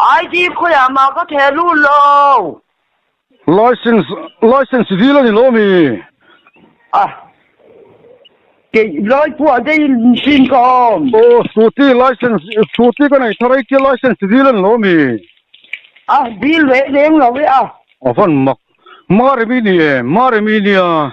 ID khawiah mah ka theh lut lo. Licence, Licence dil a ni lo mi? Ah, kei lai pawh a dei hlin ka awm. Aw, scooty licence, scooty ka nei thar a, itia licence dil a ni lo mi? Ah, dil reh reng lo e a. Avan mak, Marimi ni e, Marimi nia.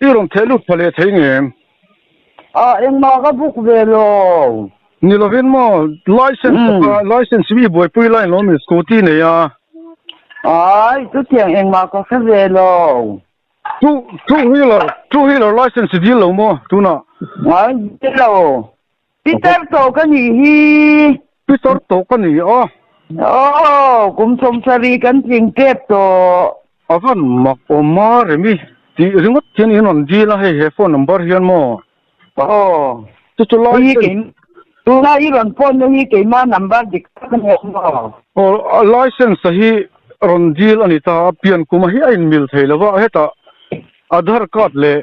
I rawn theh lut pha leh thei ngem. Ah, engmah ka buk ve lo. Ni lovin maw, licence ka hma, licence hi i buaipui lai lo min scooty nei a. Ai, chutiang engmah ka hre ve lo. Two, two wheeler, two wheeler licence i dil lo maw tunah? Ai, dil lo. Peter tawh ka nih hi. Peter tawh ka ni a. Aww, kum sawm sarih kan tling tep tawh. A van mak awm a remi. Tih ringawt hian in rawn dil a hei he phone number hian maw. Aww, chu chu lai hi kei. Tuna i rawn phone na hi keimah number dik tak a ni ang maw. Aww, license hi rawn dil a ni ta a pian kuma hi a in mil thei lo va, hetah aadhar card leh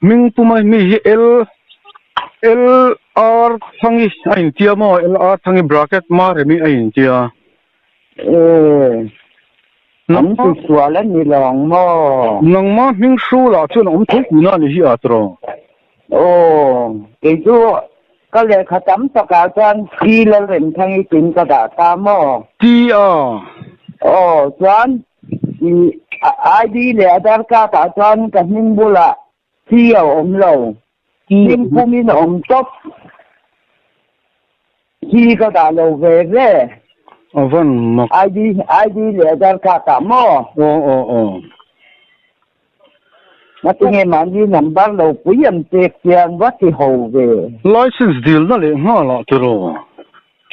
Hming puma hi mi hi L L R Thangi a intia maw L R Thangi bracket Maremi a intia ee nang ma sual a ni lawng maw nang ma hming hru lah chuan awm thei tih na ni hi a tro oo kei chu ka lehkha tam tak ah chuan T Lalrem Thangi tin ka dah ta maw ti a oo chuan ID leh Aadhar card ah chuan ka hming bulah C a awm lo, hming pumin a awm tawp, C ka dah lo ve ve, ID leh Aadhar card ah maw? Matinge mahni number lo pui ang che chiang va ti ho ve. License dilna leh nghâla tiraw?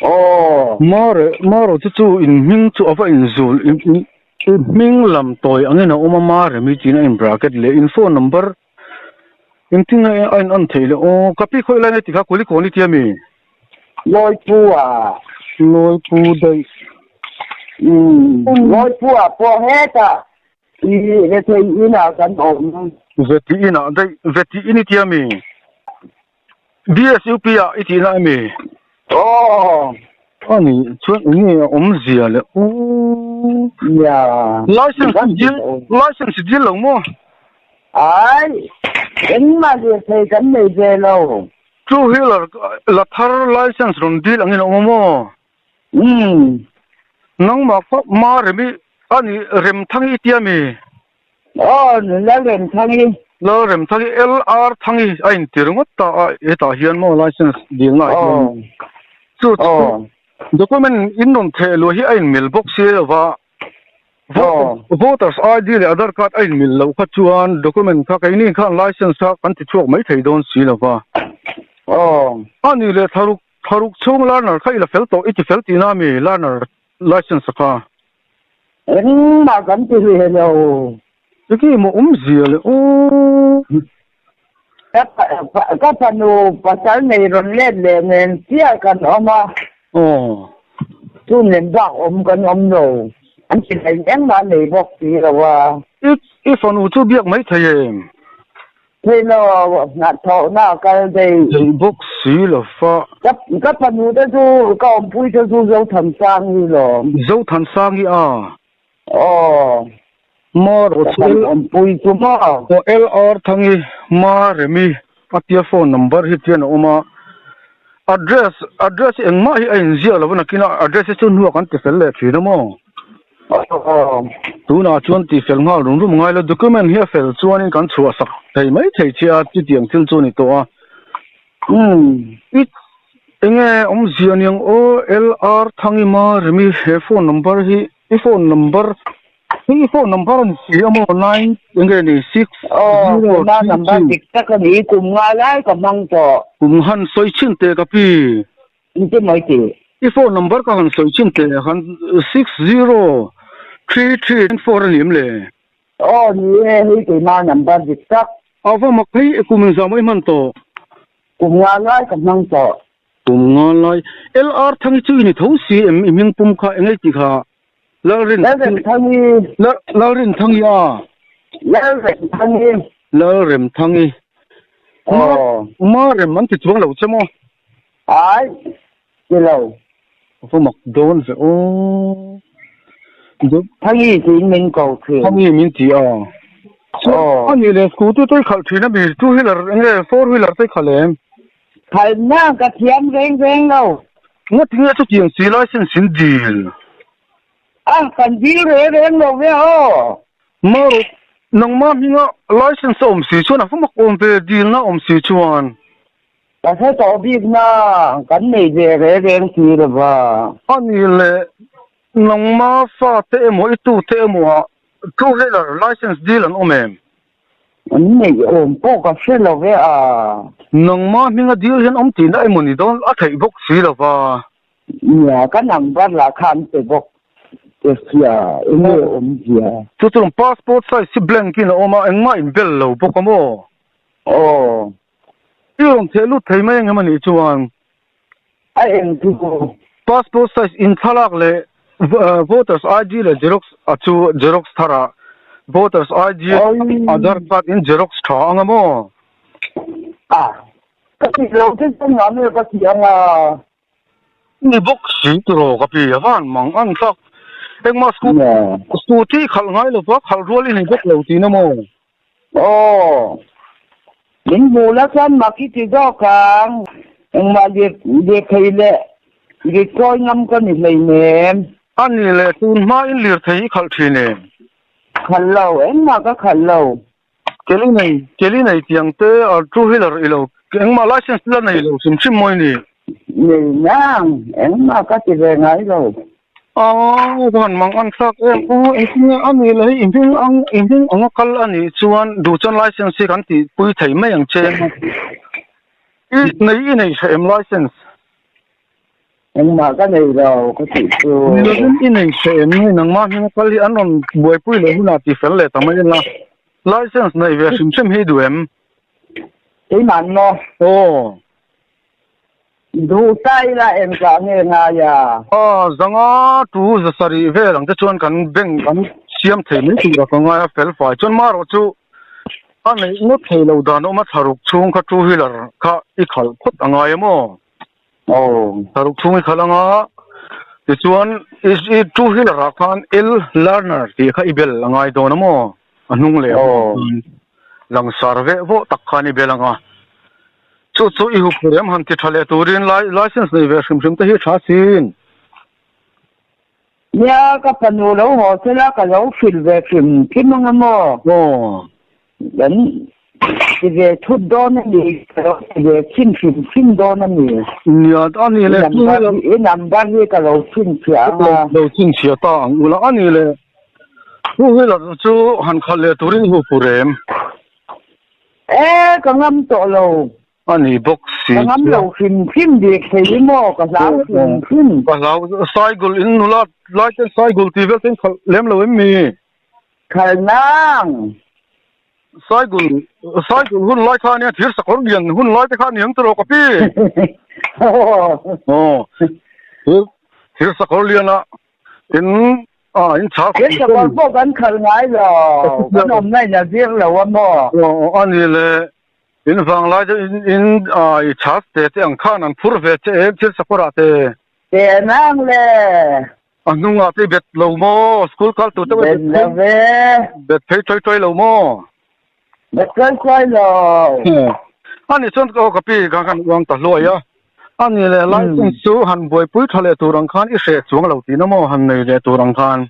Aw. Mare, Maro te chu in hming chu a va in zul i i hming lam tawi angin a awm a Mare mi tiin a in bracket leh in phone number in tin a a in an theih leh aw ka pi khawi lai nge tikha Kualikawng ni tia mi? Lawipu a. Lawipu daih. Umm Lawipu a pawh hetah I Vetei inah kan awm. Vetei inah daih. Vetei in i ti ami? BSUP ah i tihna ami? Aww. A ni. Chuan enge a awm zia le? Aww. Nia. License i dil, license i dil lo maw? Ai. Engmah zia thei kan nei ve lo. Two wheeler la thar license rawn dil angin a awm maw? Umm. Nangmah kha ma remi a ni Remthangi i tia mi? Aw, Lalremthangi. Lalremthangi, LRthangi a intir ngawt ta a hetah hian maw licence dilnaah hian. Aw. Chu chu document inrawn theh luh hi a inmelh bawk si lova. Aw. Voters ID leh Aadhar card a inmelh loh kha chuan document kha keini khan licence kha kan ti chhuak mai thei dawn si lova. Aw. A ni leh tharuk. Tharuk chhung learner kha i la fel tawh, i ti fel tihna a mi learner licence kha. Engmah kan ti hlih heh lo. Chiki maw um zia le u. Ka fanu pasal nei rawn let leh nen chiah kan awm a. Aw. Chu nen bak awm kan awm lo. An ti hlai engmah nei bawk si lo a. I fanu chu biak mai thei em? Hlilo hnathawhna a kal daih. Theih bawk si lo fa. Ka panu te chu ka awmpui te chu Zothan Sangi lawm. Zothan Sangi a? Aw. Mar aw chu L. Awmpui chu maw? Aw LR Thangi, Mar Remi atia phone number hi chian a awm a. Address, address engmah hi a inziak lo va nakin address hi chu hnu a kan ti fel leh thin a maw? Tunah chuan tihfel nghal rum rum a ngai lo. Document hi a fel chuanin kan chhuahsak thei mai thei che a, chutiang thil chu a ni tawh a. It's Enge awmzia niang aw LR Thangima Rimi he phone number hi i phone number i phone number a ni si a maw nine enge a ni six zero three three. Aw, tuna number dik tak a ni, kum nga lai ka hmang tawh. Kum han sawi chhin teh ka pi. Engtin mai ti? I phone number ka han sawi chin teh han six zero three three nine four a ni em le? Aw ni e, hei keimah number dik tak. A va mak phei e, kum inzam i hman tawh. Kum nga lai ka hmang tawh. Kum nga lai. LR Thangi chu i ni tho si em? I hming pum kha engei ti kha? Lalreng. Lalrem Thangi. Lalreng Thangi a? Lalrem Thangi. Lalrem Thangi. Aw. Ma rem an ti chuang lo che maw? Aih! Ti lo. Ka va mak dawn ve aw. Dup. Thangi tiin min ko thin. Thangi min ti a. Aw. Ani le scooty te khalh thin a mi two wheeler nge four wheeler te khalh em? Khalhna ka thiam veng veng lo. Nga tinge chutiang si lai sin sin dil. A, kan dil reh reng lo ve aw. Maru, nangma hminga license a awm si chuan a va mak awm ve dilna awm si chuan. Ka hre tawh bikna kan nei ve reng reng si lova. Anih le, nangma fate emaw i tute emaw-ah two wheeler licence dil an awm em? An neih awm pawh ka hre lo ve a. Nangma hminga dil hian awm tihna emaw ni dawn a theih bawk si lova. Nia, ka number lah kha an pe bawk che sia, enge a awm zia? Chu chuan passport size hi blank in a awm a, engmah inbel lo bawk a maw? Aw, I awm theh lut thei mai ang em a nih chuan a eng chu passport size inthlalak leh voters ID leh xerox a chu xerox thar a voters ID aadhar card in xerox tha ang a maw? A ka tih lo che chuan mahni a ka tih ang a. Ni bawk si tiraw ka pi a van mang ang tak. Engmah scooty scooty i khalh ngai lo pah khalh rual i ni bawk lo tina maw? Aw min hmuh la chuan mak i ti zawk ang. Engmah lep lepthei leh ritkawi ngam ka ni hlei nem. A ni le, tun hmain lirthei i khalh thin em? Khalh lo, engmah ka khalh lo. Kelly nei Kelly nei tiang te a two wheeler ilo engmah license te la nei lo hrim hrim mawi ni. Nei nang engmah ka ti ve ngai lo. Aw ka han mang anthlak em aw engtinge a nih loh hi i hming ang i hming anga kal a nih chuan duh chuan license hi kan tih pui thei mai ang che i nei i nei tha em license. Engmah ka nei lo ka tih chu. Niloin i nei che em nge nangmah hming a kal hi an rawn buaipui leh hunah tih fel leh ta mai anga license neih ve hrim hrim hi duh em? Keimah maw? Aw. Duh ta ila en tah nge ngai a? Aw zanga tu za sarih vel ang te chuan kan bank kan siam thei mai tur a ka ngai a fel fai chuan marawh chu a neih ngawt theilo dan awma thlaruk chhung kha two wheeler kha i khalh phawt a ngai em aw. Aw. Paruk chhung i khalh ang a, tichuan i i two wheeler ah khan L learner tih kha i bel a ngai dawn a maw? A hnung leh pawh khan langsar veh vawh tak khan i bel ang a. Chu chu i hup rem han ti tha leh turin license nei ve hrim hrim te hi a tha sin. Nia ka fanu lo haw sel a ka lo hrilh ve hrim hrim anga maw haw kan ti ve thut dawn a ni ka lo ti ve chhin hrim hrim dawn a ni. Nia a ni le two wheeler i number hi ka lo chhinchhiah ang a. Lo chhinchhiah ta ang u la a ni le two wheeler chu han khalh leh turin hupu rem. Ee ka ngam tawh lo. A ni bawk si chuan. Ka ngam lo hrim hrim bik thei hi maw ka hlau hrim hrim. Ka hlau Saigul in nula lai chuan Saigul tih vel ten khalh lem lo em mi? Khalhnang. Saigul Saigul hun lai kha ania thir sakawr lian hun lai te kha ani ang che rawh ka pi. Aw thir thir sakawr lian ah in a in chhar khuh thei. Thir sakawr pawh kan khalh ngai lo kan awmna in a zir lo a maw? Aw a ni le. In vanglai te in i charge te te ang khan an phur ve che em thil sakawr ah te. Te an ang le. A hnung ah te bet lo maw school kal tur te bet lo ve. Bet phei tuai tuai lo maw. Bet tuai tuai lo. A nih chuan aw ka pi kha khan uang ta hluai a. A nih leh lai chung chu han buaipui tha leh tur ang khan i hreh chuang lo tihna maw han nei leh tur ang khan.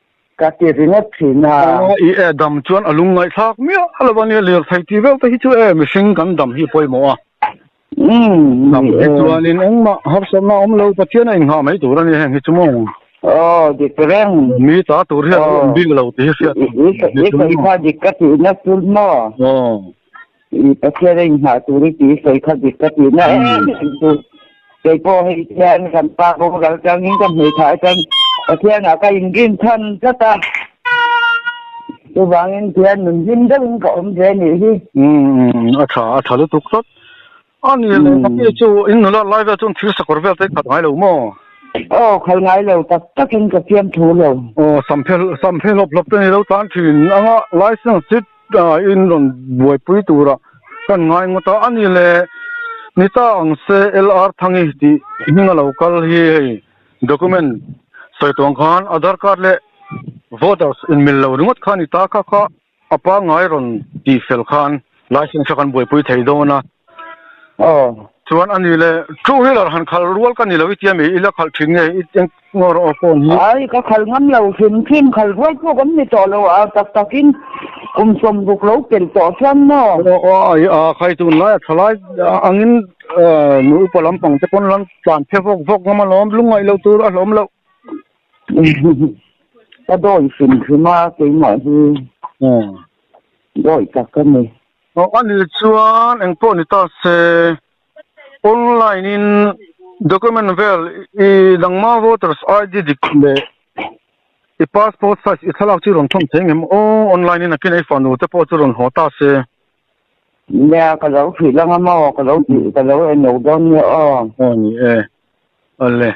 ka ti ringawt thin a. I e dam chuan a lung ngaihthlak miah lo a nia, lirthei ti viau te hi chu e, mihring kan dam hi pawi maw a. Dam hi chuanin engmah harsatna a awm lo, Pathiana inngha mai tur a nia heng hi chu maw. Aw dik reng. Mi ta tur hian a awm bik lo tih hi hriat theih a. I sawi kha dik ka tihna tul maw. Aw. I Pathian a inhah tur i tih i sawi kha dik ka tih na em em chu keipawh hei hian kan pa boral changin ka hmui thah aṭang Pathianah ka inrin than tlat a chuvangin Pathian nun hlim deuhin ka awm ve anih hi. Umm a tha a tha lutuk tlat. A ni le Mami chu in nula lai vel chuan thil sakawr vel te i khat ngai lo maw? Aw, khat ngai lo tak takin ka fiam thu lo. Aw, sam phel sam phel hawp hawp te ni lo tan thin ang a, licence chi ta in rawn buaipui tura kan ngai ngawt a. A ni le ni ta ang se LR Thangi tih hming a lo kal hi hei document sawi tuang khan Aadhar card leh voters inmil lo ringawt kha a ni ta kha kha. A pangngai rawn tih fel khan Lai Sengsa kan buaipui thei dawn a. Aw, chuan a ni le, two wheeler han khalh rual ka ni lo i tia mi, i la khalh thin nge i eng nge rawh a phone hi? Ai, ka khalh ngam lo, hrim hrim khalh rual pawh kan ni tawh lo a, tak takin kum sawmruk lo pelh tawh chuan maw? Aw, ai, a khai tun lai a thalai angin nu upa lampang te pawn lan tlan phe vawk vawk ngam alawm, lungngaih lo tur a hlawm loh. Ka dawih fimfim a, keimah hi dawih tak a ni. Aw, ani chuan eng pawh ni ta se, online in document vel i dang hma voters ID dik leh i passport size i thlalak chu i rawn thawm thei ngei maw? Aw, online in a kinai fanu te pawh chu rawn haw ta se. Nia, ka lo hrih langa maw, ka lo tih, ka lo en lo dawn nia aw. Aw ni e, ale.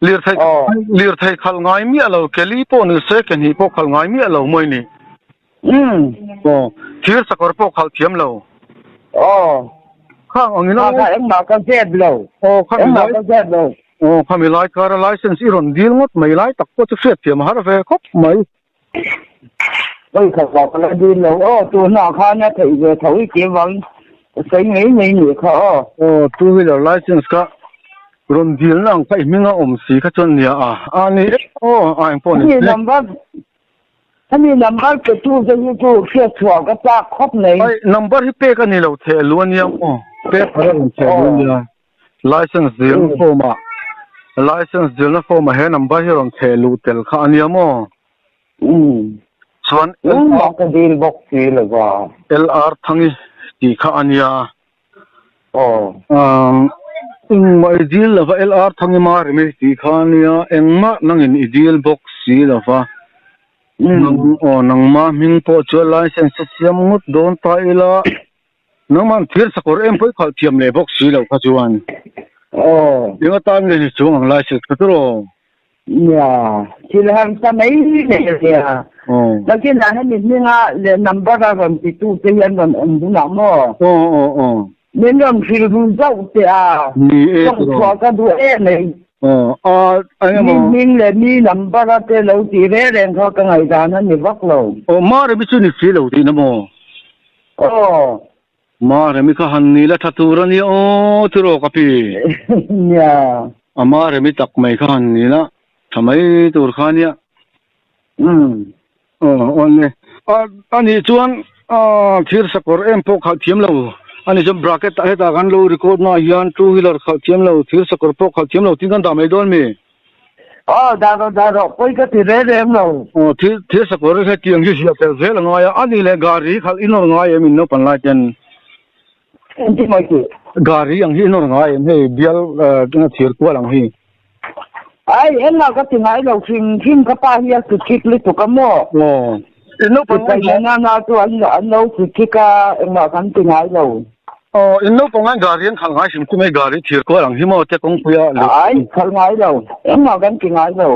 Lirthei khalh ngai miah lo, Kelly pawh ni se, Kenny pawh khalh ngai miah lo mawi ni? Aw, thir sakawr pawh khalh thiam lo? Aw, khang angin a laisense... Engmah ka zep lo, engmah ka zep lo. Aw, khami Laikara laisense i rawn dil ngawt mai lai tak pawh chu hriat thiam a har ve khawp mai. Oi kha ka la dil lo aw tu hna khan a theih ve tho i ke vang ka sawi ngei mai ni kha aw. Aw two wheeler license kha rawn dil na ang paih hming a awm si kha chuan nia a a ni e aw a eng pawh ni number ani number pe tu te hi chu hriat chhuah ka chak khawp mai. Ai number hi pek a ni lo chhe lu aniang aw pek a rawn chhe lu nia. Licence zirna form ah Licence zirna form ah he number hi rawn chhe luh tel kha ania maw? Umm. Chuan Engmah ka dil bawk si lova. LR Thangi tih kha ania. Aw. Umm. Engmah i dil lova LR Thangi Marimi tih kha ania. Engmah nangin i dil bawk si lova. Umm. Aw nangma hming pawh chuan Licence a siam ngut dawn ta ila. Nangmang thir sakawr em pawih khalh thiam leh bawk si lo kha chuan eng atan nge hi chung ang lai si ka tiraw? Nia, thil han sa mai leh nia. Nakinah hemi hminga leh number a rawn ti tu te hi an rawn awm dun ang maw? Aw aw aw. Min rawn rilru zauh teh a. Ni e. Chawngchhuah ka duh e mai. Aw a eng emaw. Mi hming leh mi number a te lo tih reng reng kha ka ngaihdan a ni vak lo. Aw Mari mi chu ni si lo tihna maw? Aw. Mahre mi kha han ni la tha tur a nia aw ti rawh ka pi. Nia. A mahre mi tak mai kha han ni la tha mai tur kha nia. Umm. Aw awn le. A a nih chuan aw thirsakawr em pawh khalh thiam lo a ni chuan bracket ah hetah kan lo record naah hian two wheeler khalh thiam lo thirsakawr pawh khalh thiam lo tih kan dah mai dawn mi? Aw, dah rawh, dah rawh, pawi ka ti reng reng lo. Aw, thil, thil sakawr reng he tiang hi hriat tel zel a ngai a, a ni leh Gari khalh i nawr ngai em in naupang lai ten? Engtin mai tih? Gari ang hi i nawr ngai em hei, bial ehh thir kual ang hi? Ai, engmah ka ti ngai lo, hrim hrim ka pa hi a suchik lutuk a maw? Aw. In naupang hi na na chuan an lo kut thik a engmah kan ti ngai lo. Aw in naupang hi gari an khalh ngai sim chu mai gari thir kual ang hi maw tia kawngpui a leh ai khalh ngai lo engmah kan ti ngai lo.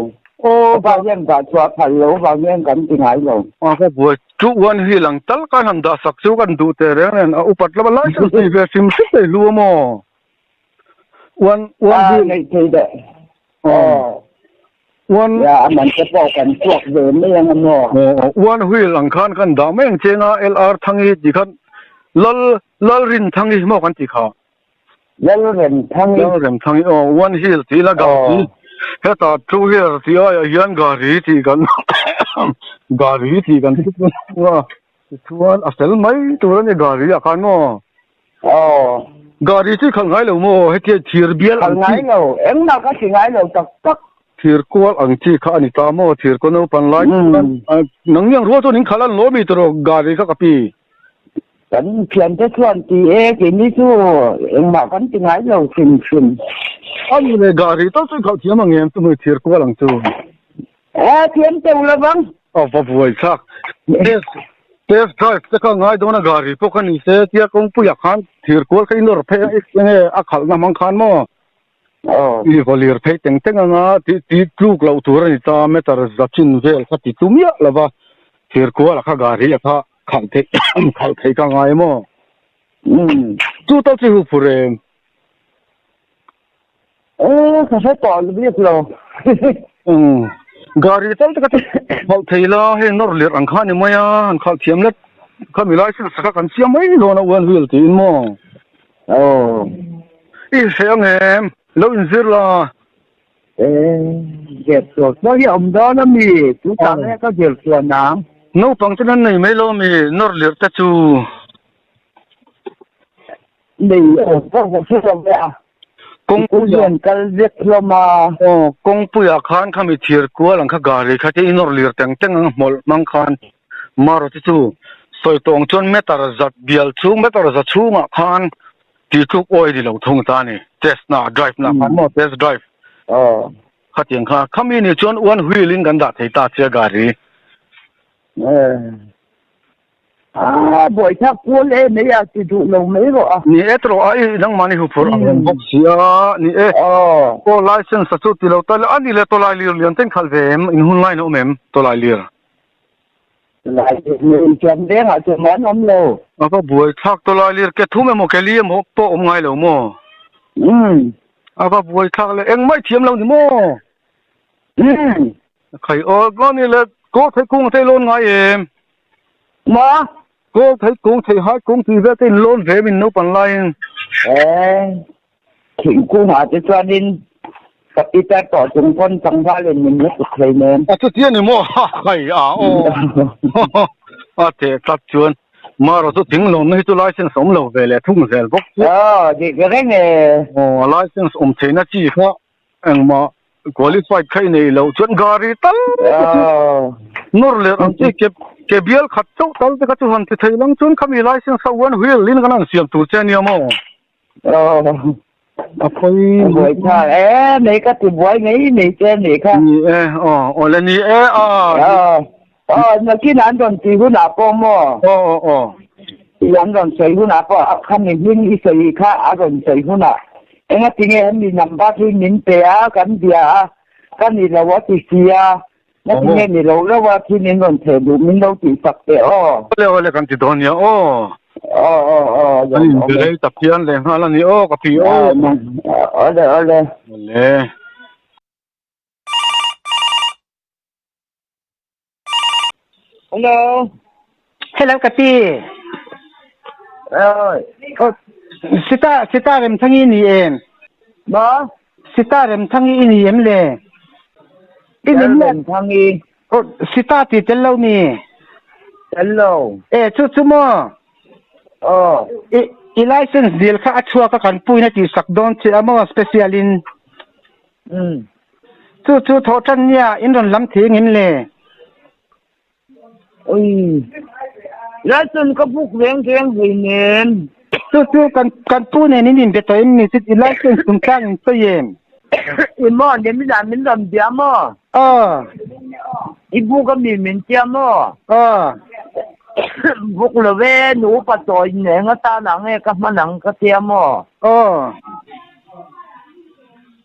Aw ka pa hian ka chhuah phal lo vang hian kan ti ngai lo. Aw ka buai chu uan hi lang tal ka hnam dah sak chu kan duh teh reng nen a upat lam a lai sak a ti ve fimfim mai hlu a maw. Wan wan hi nei thei de. Oh. Wan ya aman te po kan chuak ve mai ang mo. Oh, wan huil ang khan kan da mai ang chenga LR thangi ti khan lal lal rin thangi mo kan ti kha. Lal rem thangi. Lal rem thangi. Oh, wan hil ti la ga ti. Heta two wheeler ti ai a hian gari ti kan gari ti kan ti. Tichuan a fel mai tur a ni gari ah khan maw? Aw. Gari chu i khalh ngai lo maw? Heti hian thir bial ang chi. Khalh ngai lo. Engmah ka hri ngai lo tak tak. Thir kual ang chi kha a ni ta maw? Thir kaw naupan lai chuan nang miang rual chuan in khalh a ni lo mi tur aw, gari kha ka pi. Kan thian te chuan ti e, keini chu engmah kan ti ngai lo hrim hrim. Ani le, gari tal chu i khalh thiam ang em chumi thir kual ang chu? He a thiam teuh lo vang. A va buai thlak. Test test drive te kha ngai dawn a gari pawh ka ni se tia kawngpuiah khan thir kual kha i nawr phei a eng nge a khalhna hmang khan maw i va lir phei teng teng ang a tih ti tluk loh tur a ni ta meter zachin vel kha ti tlu miah lova thir kualah kha gari a kha khalh theih khalh theih ka ngai maw chu tal chu i hufur em. Eee ka hre tawh alh bik lo Gari tal taka hnawh thei la hei nawr lir ang kha ni mai a han khalh thiam let kha milai sir sakah kan siam mai dawn a uan vil tiin maw aw i hreh ang em lo in zir la ee zir tawh pawh hi a awm dawn a mi chutah nge ka zir chuan ang naupang ten an nei mai lo a mi nawr lir te chu. Lei aw vak vak chu ka ve a, Kawngpui a, Zun kal vek hlawm a. Aw, Kawngpui ah khan kha mi thir kual ang kha gari kha te inawr lir teng teng ang hmawlh hmang khan Maruti chu sawi tawng chuan meter zat bial chhung meter za chhung ah khan ti tluk awi ni lo thung ta ni test na drive na khan maw test drive khati ang kha khami nih chuan one wheel in kan dah thei ta che gari. Aa, Bawihthlak Paul e, mei a ti duh lo mai rawh a. Ni e, tawrh a, i nangmah ni huphurh ang reng bawk si a, ni e. Aw, License-a chu ti lo ta le, a ni le, Tawlai Lir lian ten khalh ve em? In hun ngain a awm em, Tawlai Lir? Tawlai Lir leh Intiam Vengah chu mah an awm lo. A va buaithlak Tawlai Lir, ke thum emaw, ke li emaw pawh awm ngai lo maw? Umm. A va buaithlak le, engmah thiam lo ni maw? Umm. A khai aw, a ni le, Kawhthei kung a tei lawn ngai em? Ma, Kawl thei kung, thei hai kung tih vel te in lawn ve min naupang laiin. Ee, thing kung ah te chuan in ka Peter tawh chung pawn tlangval in min la kut thei nen. A chuti a ni maw? Ha, hai a aw. A teh tlat chuan Ma rawh chu thing lawnna hi chu license awm lo ve leh thung zel bawk chu. Aw, dik reng e. Aw, license awm theihna chi kha Engmah qualified kha i nei loh chuan gari tal te nawr lerh ang chi ke ke bial khat chauh tal te kha chu han ti thei lang chuan khami license kha uan huil in kan han siam tur che nia maw? A pawi buai thlang e nei ka ti buai ngei ngei che a nih kha. Ni e aw awle ni e aw. Aw, nakin an rawn ti hunah pawh maw? Aw, aw, aw. Ih, an rawn sawi hunah pawh a kha nihning i sawi kha a rawn sawi hunah engatinge an ni lam bak hi min pe a, kan bia a, ka ni lo a ti si a, nakinge ni loh reuh a khi min rawn chhe duh, min lo tih sak teh aw. Awle awle kan ti dawn a nia aw. Aw, aw, aw, awle. An inbe rei tak hi an leh nghal a ni aw ka pi aw. Aw, nang, awle, awle. Awle. Hello. Hello Kati. Rồi. Ờ, Sita, Sita rem thangi ni em. Ba? Sita rem thangi ni em le. Ini Tel rem thangi. Ờ, Sita ti tel lo mi. Tel lo. E, chu chu mo. Ờ. I, i license deal kha a chhuak a kan puina ti sak dawn che amo special in. Umm. Chu chu thaw tan nia in rawn lam thei ngin le. Ui. Laitun ka buk veng veng vei nen. Chu chu kan kan pu nen in inbe tawh in mi chu ti lai chuan sum tlang in sawi em. I maw ni min ah min rawn bia maw? Aw. I buk a mi min tia maw? Aw. Buk lo ve nu upa chaw in eng atan ah nge ka hman ang ka tia maw? Aw.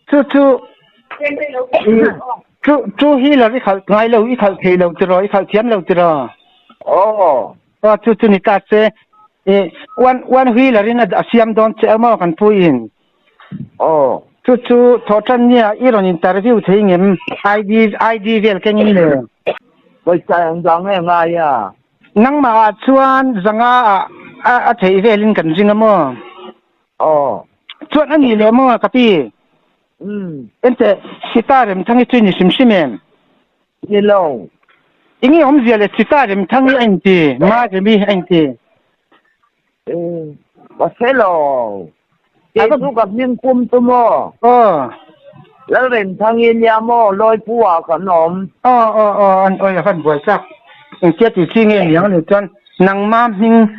chu chu chu chu hi la i khalh ngai lo i khalh thei lo tira i khalh thiam lo tira aw aw chu chu ni ta che e wan wan hui la rin a siam don che amo kan pui in aw chu chu tho tan nia i ron interview thei ngem id id vel keng in le koi sa ang dang e ngai a nang ma a chuan zanga a a thei vel in kan zing amo Aw. Chuan a nih leh maw a ka pi? Umm. Enteh Sita Remthangi chu i ni hrim hrim em? Ni lo. I nge awm zia le Sita Remthangi a inti, Ma Remi a inti? Umm. Ka hre lo. Kei chu ka hming kum tu maw? Aw. Lal Remthangi nia maw? Lawipuah kan awm. Aw aw aw, an awih a kan buai tlak. Engtia ti chi nge niang a nih chuan. Nangma hming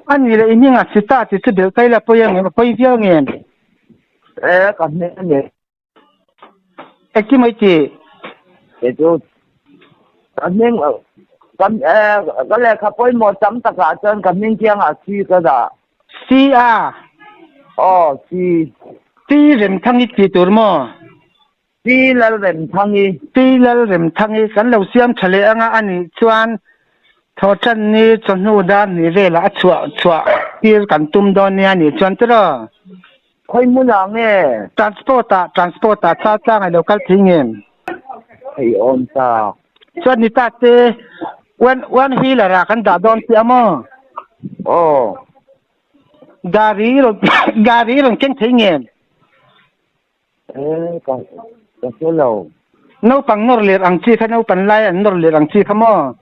a ni leh i hming a si ta tih chu Deltai la pawi ang em? A pawi viau nge em? E, ka hming a ni. E ti mai ti. E chu ka hming a, ka e, ka lehkha pawimawh tam takah chuan ka hming kiangah C ka dah. C a? Aw, C. Ti remthang i ti tur maw? Pi Lalremthangi. Pi Lalremthangi kan lo siam tha leh anga a nih chuan Thawhtanni chawhnu dar hnih velah a chhuah chhuah tir kan tum dawn nia nih chuan tiraw. Khawi hmun ah nge? Transport ah, transport ah char tlangai lo kal thei nge? Thei awm tak. Chuan ni ta che one one wheeler ah kan dah dawn tih a maw? Aw. Gari rawn gari rawn keng thei nge? Ka ka hmu lo. Naupang nawr lir ang chi kha naupan lai an nawr lir ang chi kha maw?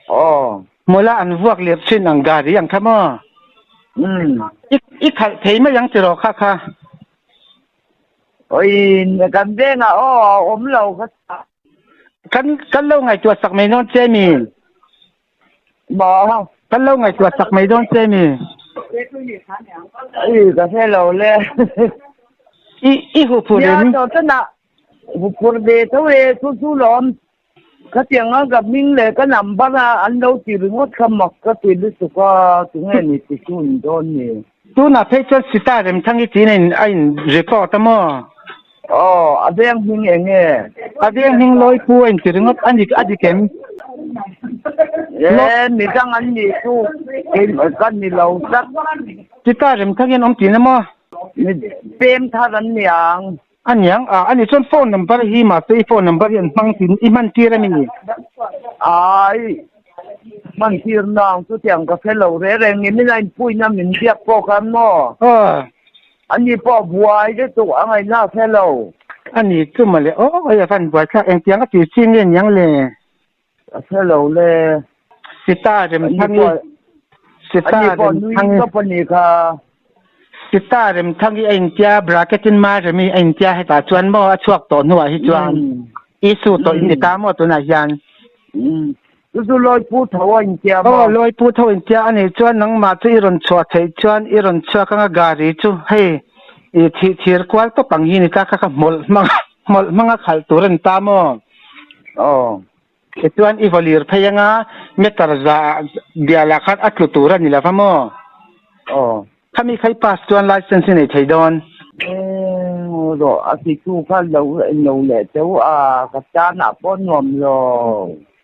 Aw. Mawla an vuak lir chin ang gari ang kha maw? Um. I i khalh thei mai ang tiraw kha kha? Awi kan vengah aw a awm lo ka. Kan kan lo ngaihtuah sak mai nawn che mi. Bawh kan lo ngaihtuah chak mai dawn che mi. I ka hre lo le. I i hupur em? Nia tawh tana hupur ve tho e chu chu lawm. Khatiang a ka hming leh ka number a an lo ti ringawt kha maw ka ti lutuk a chu nge ni ti chu in dawn ni. Tunah phei chuan Sita remthang hi tiin a in a in report a maw? Aw, a veng hming eng e? A veng hming Lawipu a inti ringawt a ni a ni kem. Ee, mi dang an nih chu ka ni lo tak. Sita remthang hian awm tiin a maw? Mi pem thar an ni ang. A niang, ah, ani chuan phone number hi mahse i phone number hi an hmang thin i hman tir ami ni? Ai, hman tir na ang chutiang ka hre lo reng reng ni, min a inpui na min biak pawh khan maw? Aw. Ani pawh a buai lutuk a ngaihna a hre lo. Ani tlum a le, aw, eng a van buai thlak engtiang a tih chin nge niang le? Hello le. Sita Remthangi Sita Remthangi ka pani kha. Sita Remthangi a intia bracket in Maremi a intia hetah chuan maw a chhuak tawh hnuah hi chuan issue tawh in ni ta maw tunah hian. Chu chu Lawi Pu Tho a intia maw. Aw Lawi Pu Tho intia a nih chuan nangmah chu i rawn chhuah theih chuan i rawn chhuak anga Gari chu hei i thih thir kual tawp ang hi ni ta kha ka hmawlh hmang hmawlh hmanga khalh tur a ni ta maw. Aww. Tichuan i vaw lir phei anga meter za bialah khan a tlu tur a ni lova maw? Aww. Khami phei pass chuan licence i nei thei dawn. Eng rawh, a titu khan lo en lo leh teuh a, ka chana pawh nuam lo.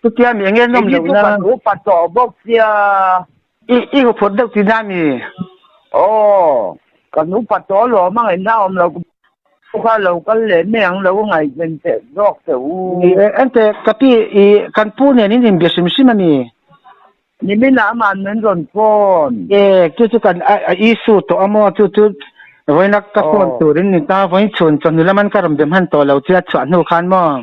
Chutia mi enge nawm lohna? Enghi chu ka duh pa tawh bawk sia. I i uphawt deuh tih nan i? Aw, kan upa tawh alawm a ngaihna a awm lo ka pu kha lo kal leh meh ang lo a ngaihven teh zawk teh u. Ni e, ente ka pi i kan pu nen in inbia sim sim a ni. Ni minah amah min rawn pawn. E, chu chu kan a i su tawh a maw chu chu vawinak ka pawn turin ni ta vawiin chhun chawhnu lam an ka rawn be hman tawh lo che a chhuah hnu khan maw.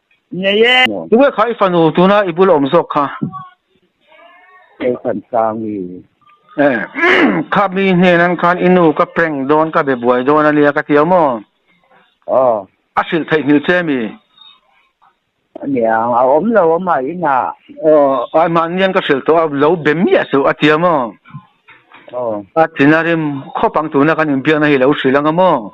Ngei e. Tukverh kha i fanu tuna i bul a awm zawk kha. Khaihran sang i. Eh. Kha mi hnen an khan i nu ka prank dawn ka be buai dawn ania ka tia maw. Aw. A hrilh theih hmil che mi. Aniang a awm lo amaw inah. Aw ai mahnian ka hrilh tawh a lo be miah a si a tia maw. Aw. A tina rim khawp ang tuna kan inbiakna hi lo hrilh anga maw.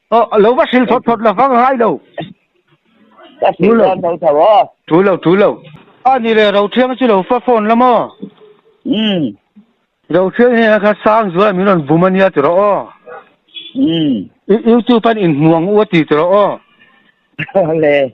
Aw, a lo va hrilh thawt thawt lo vang a ngai lo. Ka hrilh dan tho tho aw. Thu lo, thu lo. A ni le, Rothiang chu lo fa phone la maw? Umm. Rothiang hi eng kha sang zuala min rawn bum a nia ti rawh aw. Umm. Youtube-a'n inhmuang u a ti ti rawh aw. Awle.